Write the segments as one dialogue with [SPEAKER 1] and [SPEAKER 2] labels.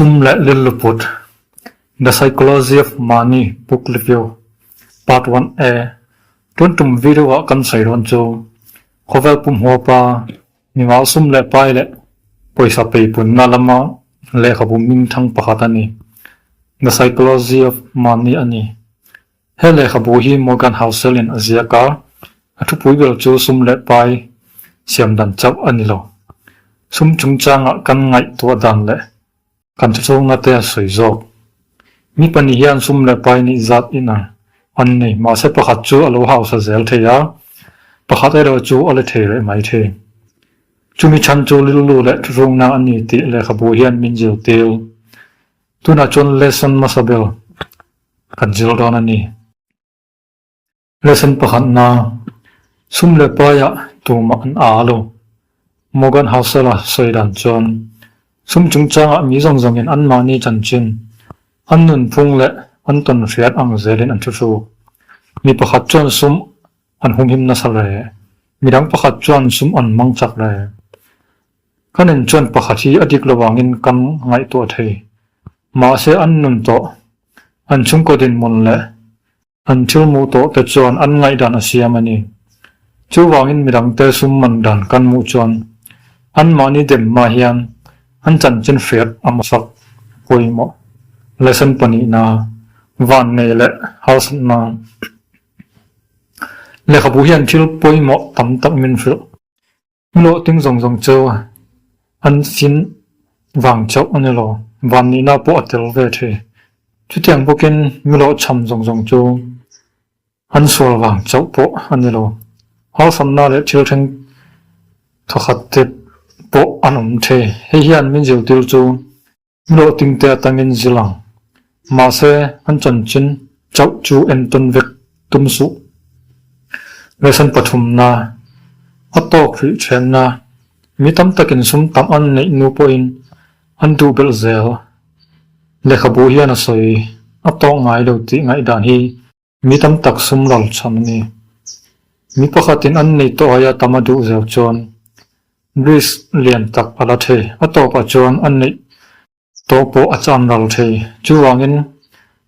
[SPEAKER 1] Chhum leh lil luput, The Psychology of Money Book Review, Part One A, Tun tum video ah kan sawi dawn chu khawvel pum huapa, mimal sum leh pai leh pawisa pei punna lama lehkhabu mingthang pakhat a ni. The Psychology of Money a ni. He lehkhabu hi Morgan Housel-in a ziak a, a thupui ber chu sum leh pai siam dan chauh a ni lo. Sum chungchangah kan ngaihtuah dan leh kan chawchawlna te a sawi zawk. Mi pahnih hian sum leh pai nih zat in ang an nei, mahse pakhat chu a lo hausa zel thei a, pakhat erawh chu a la thei reh mai thei. Chumi chhan chu rilru leh thuchungna a ni tih lehkhabu hian min zirtir. Tunah chuan Lesson Masabel kan zir dawn a ni. Lesson pakhat na, Sum leh paia tumah an aa lo. Morgan Housel-a sawi dan chuan, Sum chungchangah mi zawng zawngin anmahni chanchin an nunphung leh an tawn hriat ang zelin an thu hruk. Mi pakhat chuan sum an humhim nasa reh, midang pakhat chuan sum an mangchak reh. Ka nen chuan pakhat hi a dik lo vangin kan ngaihtuah thei. Mahse an nun tawh, an chhungkaw dinhmun leh an thil muh tawh te chuan an ngaih dan a siam a ni. Chu vangin mi dangte sum man dan kan hmuh chuan an mahni dem hma hian an chanchin hriat a hmasak pawimawh, lesson pahnihna, van ngei leh harsatna lehkhabu hian thil pawimawh tam tak min hrilh. Hlawh ting zawng zawng chu an sin vang chauh a ni lo, van nihna pawh a tel ve thi. Chutiang bawkin mihlawh chham zawng zawng chu an sual vang chauh pawh a ni lo. Harsatna leh thil thleng thawkhat te pawh an awm thi. Hei hian min zirtir chu Hlawhtling te atangin zil ang. Mahse, an chanchin chauh chu en tawn vek tum suh. Lesson pathumna, A tawk rih ṭhianna, Mi tam takin sum tam an neih nu pawhin an duh belh zel. Lehkhabu hian a sawi a tawk ngai lo tih ngaihdan hi Mi tam tak sum lo chham a ni. Mi pakhatin an neih tawh aia tam a duh zel chuan bridge lian tak a la thei. A tawpah chuan a neih tawh pawh a cham ral thei. Chuvangin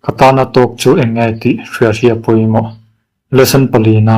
[SPEAKER 1] ka tana talk chu eng nge tih hriathria pawimawh. Lesson pali na.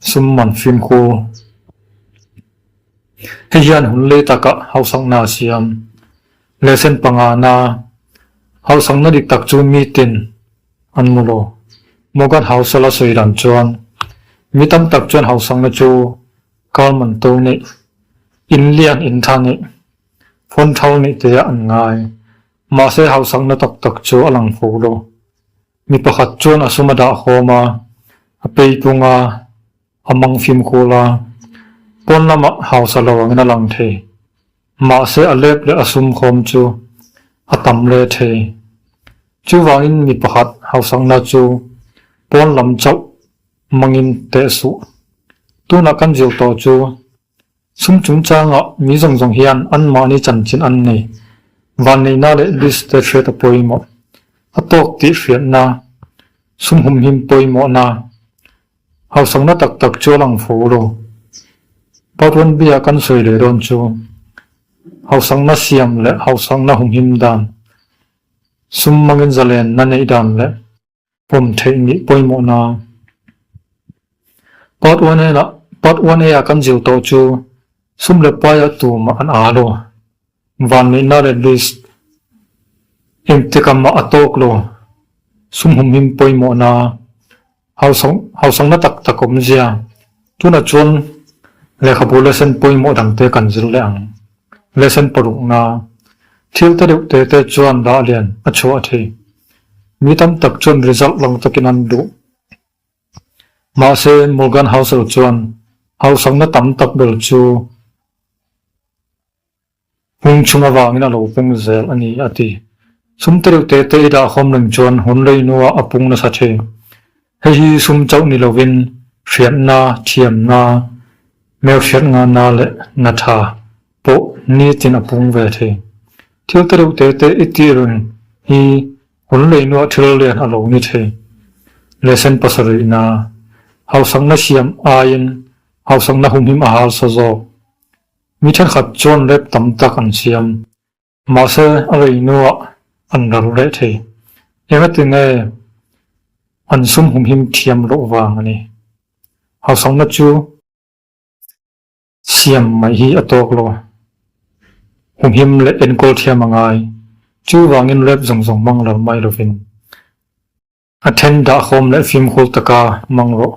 [SPEAKER 1] Sum man fimkhu hi hian hun lei taka hausakna a siam. Lehsen pangahna hausakna dik tak chu mi tin an mu lo. Morgan Housel-a sawi dan chuan, Mi tam tak chuan hausakna chu kal man to neih, in lian in tha neih, phawn thar neih teah an ngai. Mahse hausakna tak tak chu a lang fo lo. Mi pakhat chuan a sum a dah khawm a, a pei tung a, a mang fimkhul a, pawn lamah hausa lo angin a lang thei. Mahse a lep leh a sum khawm chu a tam le thei. Chuvangin mi pakhat hausakna chu pawn lam chauh mangin teh suh. Tunah kan zir tawh chu Chhum chungchangah mi zawng zawng hian anmahni chanchin an nei. Vanneihna leh Bishte hriata pawimawh, a tawk tih hriatna, chhum humhim pawimawhna, hausakna tak tak chu a lang fo lo. Part one B-ah kan sawi leh dawn chu hausakna siam leh hausakna humhim dan, sum mangin zalenna neih dan leh. pawm theih nih pawimawhna. Part one a lah part one a ah kan zir tawh chu sum leh pai ah tumah an â lo, van mehna leh list engti kam ah a tawk lo, sum humhim pawimawhna, hausawng hausawngna tak tak awmzia. Tunah chuan lehkhabu lesson pawimawh dangte kan zir leh ang. Lesson parukna, Thil ta deuh te te chuan dah lian a chhuah a thi. Mi tam tak chuan result lang takin an duh. Mahse, Morgan House erawh chuan hausakna tam tak ber chu Hming chhung avangin a lo peng zel a ni, a ti. Sum te reuh tete i dah khawm reng chuan hun reihnuah a pung nasa thin. Hei hi sum chauh ni lovin hriatna, thiamna, merhriat nganna leh na tha pawh nitin a pung ve thei. Thil te reuh tete i tih reng hi hun reihnuah thil rian a lo ni thei. Lesson pasarihna, Hausakna siam aiin hausakna humhim a hal sa zawk. Mi thenkhat chuan rep tam tak an siam, mahse a reinuah an ral reh thei. Engati nge an sum humhim thiam loh vang a ni? Hausakna chu siam mai hi a tawk lo, humhim leh enkawl thiam a ngai. Chuvangin rep zawng zawng hmang ral mai lovin A then dah hawm leh fimhul taka mang rawh.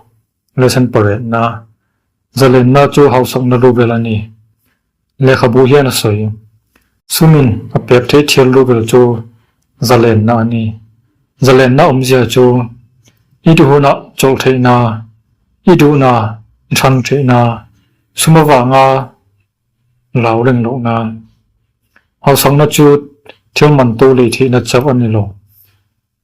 [SPEAKER 1] Lesson pawrehna, Zalenna chu hausakna luvel a ni. Lehkhabu hian a sawi. Chumin a pek theih thial luvel chu zalenna a ni. Zalenna awmzia chu i du hunah chawlh theihna, i duhna, i hrang theihna, sum avanga lau reng lohna. Hausakna chu thil man to lei theihna chauh a ni lo.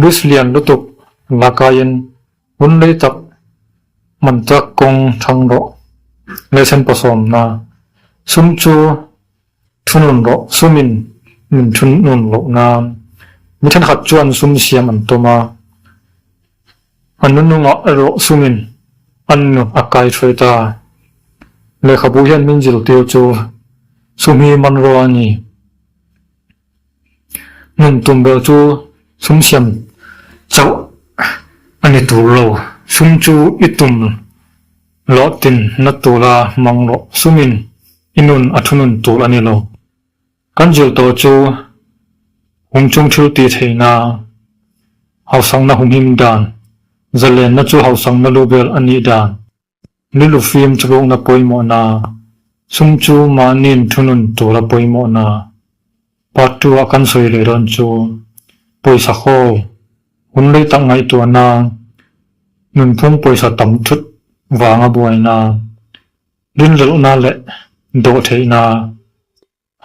[SPEAKER 1] Greece lian lutuk la kaiin hun lei tak hman tak kawng thang rawh leh senpaw sawm na sum chu thu nun rawh sumin min thu nun loh nan mi thenkhat chuan sum siam an tum a, a nu nungah erawh sumin an nu a kai thawih ta. Lehkhabu hian min zirtir chu sum hi man rawh a ni Hmun tum ber chu sum siam chauh a ni tur lo. Sum chu i tum loh tin na tura mang loh sumin i nun a thu nun tur a ni lo. Kan zir tawh chu hum chung thil ti theihna hausakna humhim dan, zalenna chu hausakna lu vel a nih dan. Lulu fim chawlhawkna pawimawhna, chung chu mahniin thunun tura pawimawhna, Part two ah kan sawi leh dawn chu, Pawisa haw, hun rei tak ngaihtuahna, nunphung pawisa tam thut vanga buaina, rinlelhna leh dawhtheihna,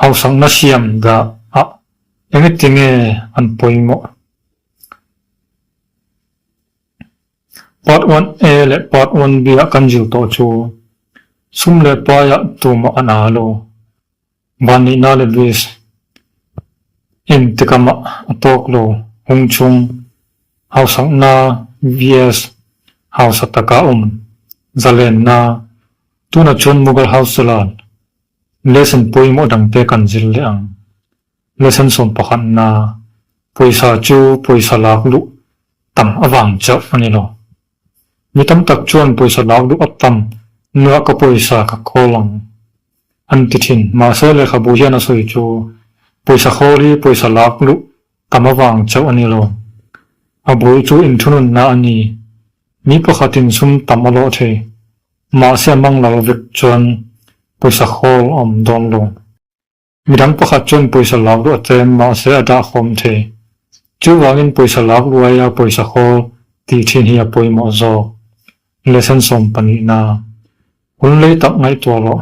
[SPEAKER 1] Hausakna siam dah a enge tinge an pawimawh? Part one A leh part one B ah kan zir tawh chu sum leh pai ah tumah a nal u. Van nihna leh vis in tikam ah a tawk lo hung chung hausakna vs hausa taka awm zalenna tuna chuan Mughal House Jalal Lesson pawimawh dang te kan zir leh ang. Lesson sawm pakhatna, pawisa chu pawisa lak luh tam avang chauh a ni lo. Mi tam tak chuan pawisa lak luh a tam nua ka pawisa ka khawl ang an ti thin. Mahse lehkhabu hian a sawi chu pawisa khawl hi pawisa lak luh tam avang chauh a ni lo. A bul chu inthununna a ni. Mi pakhatin sum tam a lawh thei. Mahse a mang lo vek chuan pawisa hawl a awm dawn lo. Midang pakhat chuan pawisa lak luh a tlem mahse a dah khawm thei. Chuvangin pawisa lak luh aia pawisa hawl tih thin hi a pawimawh zawk. Lesson sawm pahnih na. Hunlei tak ngaihtuah loh.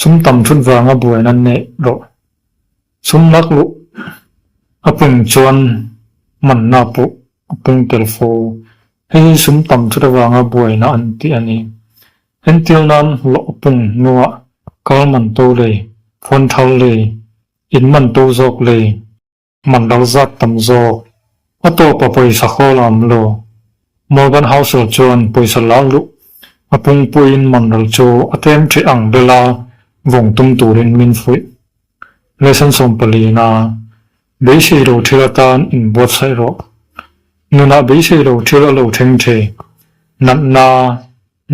[SPEAKER 1] Sum tam thut vanga buain an neih rawh. Sum lak luh a pung chuan manna pawh a pung tel fo. Hei hi sum tam thut avanga buaina an tih a ni. Entir nan hlawh a pung hnuah kal man to lei, phawn thar lei, in man to zawk lei, man lo zat tam zawk. A tawpa pawisa hawl a awm lo. Morgan Housel chuan pawisa la luh a pungpuiin manral chu a tlem ṭheh ang bel a vawng tum turin min fuih. Lesson sawm palina, Beisei lo ṭhil atan in buatsaih rawh. Nunah beisei lo ṭhil a lo ṭheng ṭhi. Natna,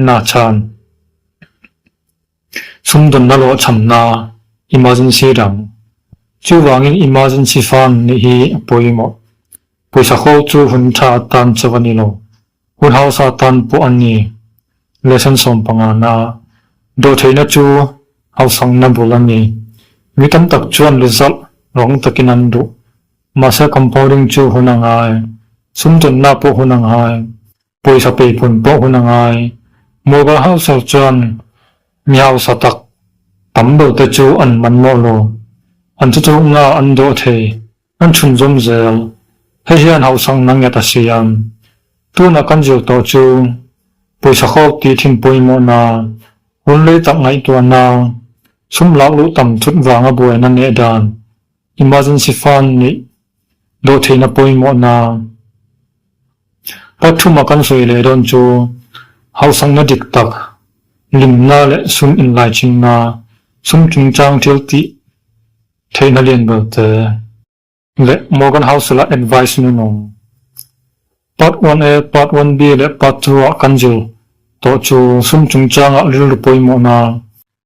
[SPEAKER 1] Nachan. Chhumdunna lawh chhamna, Emergency dang. Chuvangin Emergency Fund nih hi a pawimawh. Pawisa ho chu hun tha a tan chauh a ni lo. Hun hausa tan pawh a ni. Lesson sawm panga na, Dawhtheihna chu hausangna bul a ni. Mi tam tak chuan result rang takin an duh. Mahse compounding chu hun a ngai. Chhumdunna pawh hun a ngai. Pawisa peiphun pawh hun a ngai. Muga hausa chuan mi hausa tak tam lo te chu an man mawh lo. An chu chu nga an dawh thei. An chhun zawm zel. Hei hian hausang na nget a si a. Tuna kan zir tawh chu pawisa khawk tih thin pawimawhna, hun lei tak ngaihtuahna, sum lak luh tam chut vanga buaina neh dan Emergency Fund nih duh theihna pawimawhna pathum a kan sawi leh dawn chu hausakna dik tak, limna leh sum inlaichinna, sum chungchang thil tih theihna lian belte, leh Morgan House la advice nunawm Part one A, Part one B leh Part two ah kan zir tawh chu sum chungchangah rilru pawimawhna,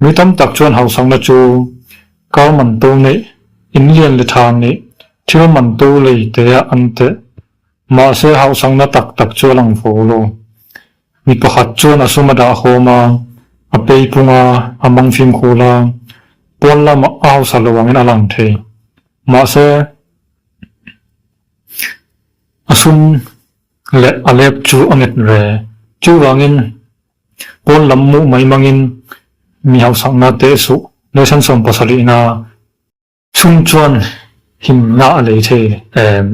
[SPEAKER 1] Mi tam tak chuan hausakna chu kar man tur nih, in lian leh tha nih thil man tur lei teh-ah an teh. Mahse hausakna tak tak chu a lang fo lo. Mi pakhat chuan a sum a dah hawm a, a pei phung a, a mang fimkhul a, pawn lam a hausa lo angin a lang thei. Mahse a sum leh a lep chu a nget ve. Chuvangin Pawn lam muh mai mangin mi hausakna teh suh Nelson sawm pasalihna chung chuan himna a lei thei em?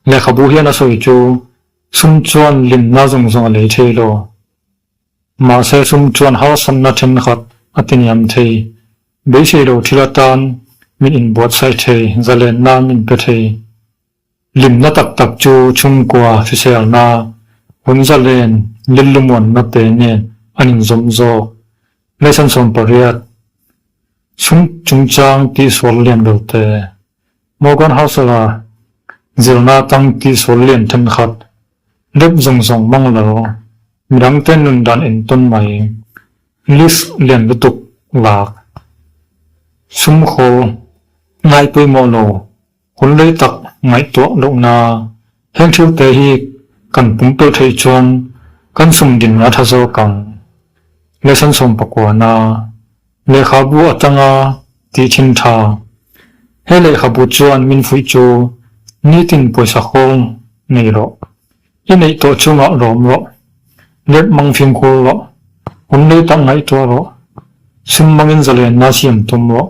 [SPEAKER 1] Lehkhabu hian a sawi chu sum chuan limna zawng zawng a lei thei lo. Mahse sum chuan harsanna thenkhat a ti niam thei. Beisei lo thil atan min inbuatsaih thei, zalenna min pe thei. Hlimna tak tak chu chhungkua hriselna, hunza len, lillumawnna te nen an inzawm zawk. Lesson sawm pariat, Chhung chungchang tihsual lian lo te, Morgan Housel-a zirna atang tihsual lian thenkhat, Dep zawng zawng hmang lo, Midang te nun dan en tawn mai, List lian lutuk lak, Chhungkaw ngai pawimawh lo, Hun rei tak ngaihtuah lohna, heng thute hi kan pumpe theih chuan kan sumdin a tha zawk ang. Lesson sawmpakuana, Lehkhabu atanga tihthim tha, He lehkhabu chuan min fuih chu nitin pawisa hawl nei rawh, i neih tawh chungah lawm rawh, lep mang fimkhur rawh, hun rei tak ngaihtuah rawh, sum mangin zalenna siam tum rawh,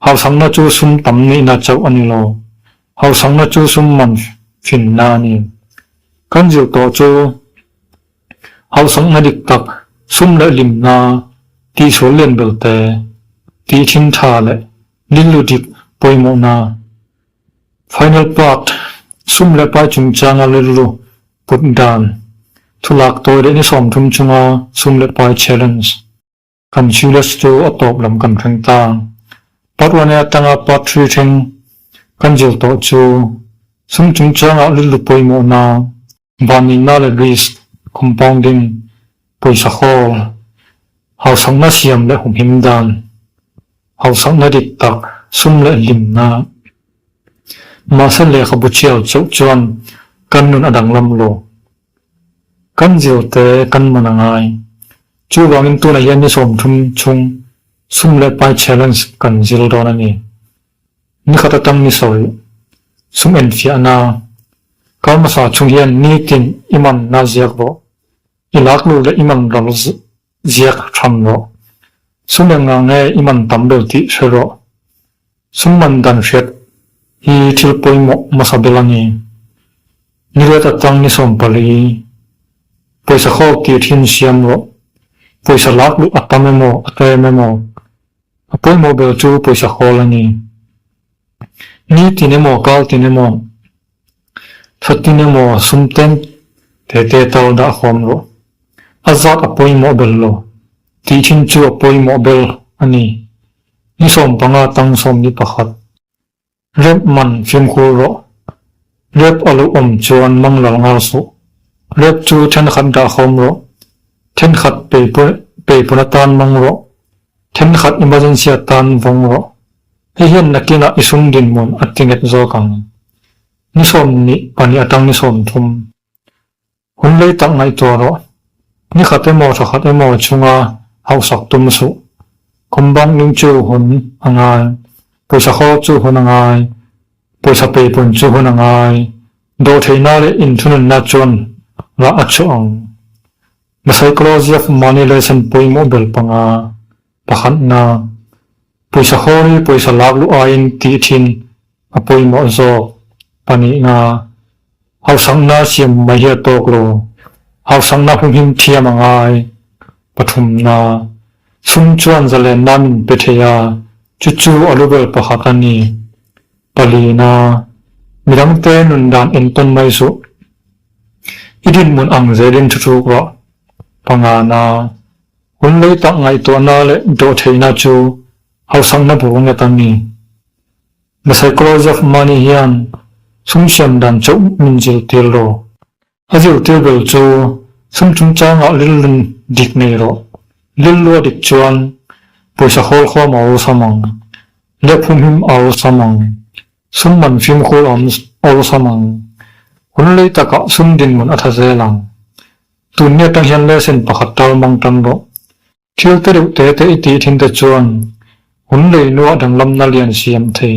[SPEAKER 1] Hausakna chu sum tam nihna chauh a ni lo. Hausakna chu sum man hrinna a ni. Kan zir tawh chu hausakna dik tak, sum leh limna, tihsual lian belte, tihthlin tha leh lillu dik pawimawhna, final part, sum leh pai chungchanga rilru put dan, thulak tawi leh ni sawm thum chunga sum leh pai challenge, Kan Silas chu a tawp lam kan thleng ta. Part one-e atanga part three thleng kan zir tawh chu sum chung chuanga lutlu pawimawhna, banneihna leh risk, compounding, pawisa hawl, hausakna siam leh humhim dan, hausakna dik tak, sum leh hlimna. Mahse lehkhabu chhiar chauh chuan kan nun a danglam lo. Kan zir te kan man a ngai. Chu vangin tunah hian ni sawmthum chung Sum leh Pai Challenge kan zir dawn a ni. Ni khat atang ni sawi sum enfiahna, Karmasa chung hian nitin i man na ziak rawh, i lak lut leh i man ral Ziak ṭham rawh. Sum engnga nge i man tam ber tih hre rawh. Sum man dan hriat hi thil pawimawh hmasa bel a ni. Niliat atang ni sawm pali, pawisa khawk tih ṭhin siam rawh. Pawisa lak luh a tam emaw a ta em emaw, a pawimawh ber chu pawisa khawl a ni. Ni tin emaw kal tin emaw. Thawtin emaw sumten te te tal dah huam rawh. A zat a pawimawh ber lo. Tih thin chu a pawimawh ber a ni. Ni sawm panga tang sawm ni pakhat. Rep man fimkhur rawh. Rep a lo awm chuan manglal ngar suh. Rep chu thenkhat dah huam rawh. Thenkhat pei pawh pei pawna tan mang rawh. Thenkhat emergency atan vawng rawh, hei hian nakinah i sum dinhmun a ti nghet zawk ang. Ni sawm nih pahnih atang ni sawm thum. Hun lei tak ngaihtuah rawh, ni khat emaw tha khat emaw chunga hauhsak tum suh. Khumbankling chu hun a ngai, pawisa khaw chu hun a ngai, pawisa peipun chu hun a ngai, dawhtheihna leh inthununna chuan rah a chhuah ang. Hlasei Clausiac mahni leh sen pawimawh bel panga pakhatna pawisa haw ri pawisa lak luh aiin tih thin a pawimawh zawk panihna hausakna siam mai hi a tawk lo. Hausakna hu him thiam a ngai pathumna chhung chuan zalenna min pe thei a, chu chu a lu ber pakhat a ni. Palina, Mi dangte nun dan en tawn mai suh. I dinhmun ang zelin thu chuk rawh. Pangana, Hun lei tak ngaihtuahna leh dawhtheihna chu hausakna bur nge ta ni? The Psychology of Money hian chhungsiam dan chauh min zirtir rawh. A zirtir ber chu sum chungchangah lil rin dik nei rawh, lil lua dik chuan pawisa hawl khuam a awlsam ang, leh phumhim a awlsam ang, sum man fimkhur a awlsam ang, hun lei takah sum dinhmun a tha zel ang. Tun nge tang hian lesson pakhat tal mang tan rawh. Thil te reuh te te i tih thinte chuan hun lei nua danglamna lian siam thei.